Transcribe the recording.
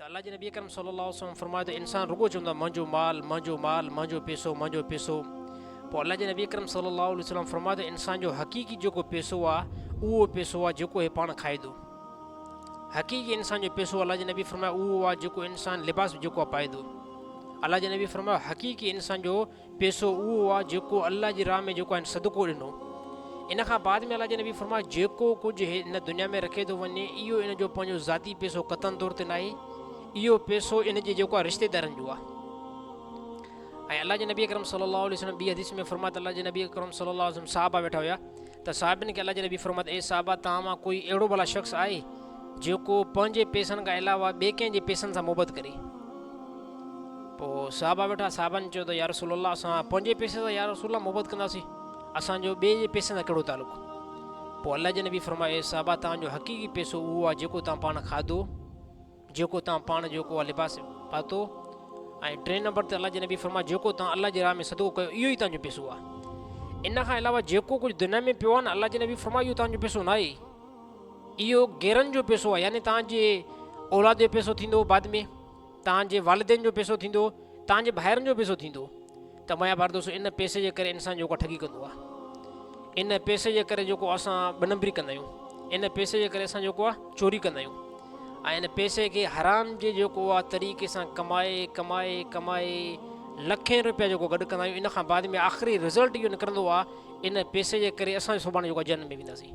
ته الله جي نبي اڪرم صلي الله عليه وسلم فرمايو ته انسان رڳو چوندو آهي منهنجو مال منهنجو مال منهنجو پيسو منهنجو پيسو پوء الله جي نبي اڪرم صلي الله عليه وسلم فرمايو ته انسان جو حقيقي جيڪو پيسو آهي اهو پيسو آهي جيڪو هي پاڻ کائدو حقيقي انسان جو پيسو الله جي نبي فرمايو اهو آهي جيڪو انسان لباس جيڪو پائدو الله جي نبي فرمايو حقيقي انسان جو پيسو اهو آ جيڪو الله جي راهه ۾ جيڪو هن صدقو ڏنو. ان کان بعد ۾ الله جي نبي فرمايو جيڪو ڪجهه هي ان دنيا ۾ رکي ٿو وڃي اهو ان جو پنهنجو ذاتي پيسو قطعن طور تي ناهي اهو پيسو ان جي جيڪو آ رشتي دارن جو آ. ۽ الله جي نبي اڪرم صلي الله عليه وسلم ٻي حديث ۾ فرمايو ته الله جي نبي اڪرم صلي الله عليه وسلم صحابه ويٺا هيا. ته صحابين کي الله جي نبي فرمايو ته اي صحابه توهان مان ڪوئي اهڙو ڀلا شخص آهي جيڪو پنهنجي پئسن کان علاوه ٻئي ڪنهن جي پئسن سان محبت ڪري؟ پوء صحابه ويٺا، صحابن چيو ته يارسول الله اسان پنهنجي پئسي سان يارسول الله محبت ڪنداسين، اسان جو ٻئي جي پئسن سان ڪهڙو تعلق؟ پوء الله جي نبي فرمايو اي صحابه توهان جو حقيقي پئسو اهو آهي جيڪو توهان پاڻ کاڌو، جيڪو توهان پاڻ جو ڪو اها لباس پاتو ۽ ٽئين نمبر تي الله جي نبي فرمايو جيڪو توهان الله جي راهه ۾ صدقو ڪيو اهو ئي توهان جو پيسو آهي ان کان علاوه جيڪو ڪجهه دنيا ۾ پيو آهي نه الله جي نبي فرمايو اهو توهان جو پيسو نه آهي اهو غيرن جو پيسو آهي يعني توهان جي اولاد جو پيسو ٿيندو بعد ۾ توهان جي والدين جو پيسو ٿيندو توهان جي ڀائرن جو پيسو ٿيندو ته مايا پردوس ان پئسي جي ڪري انسان جيڪو ٺڳي ڪندو آ ان پئسي جي ڪري جيڪو اسان ٻه نمبري ڪندا آهيون ان پئسي جي ڪري اسان جيڪو آ چوري ڪندا آهيون ۽ ان پئسي کي حرام جي جيڪو آ طريقي سان ڪمائي ڪمائي ڪمائي لکين روپيا جيڪو گڏ ڪندا آهيون ان کان بعد ۾ آخري رزلٽ اهو نڪرندو آ ان پئسي جي ڪري اسان سڀاڻي جيڪو جنم ۾ وينداسين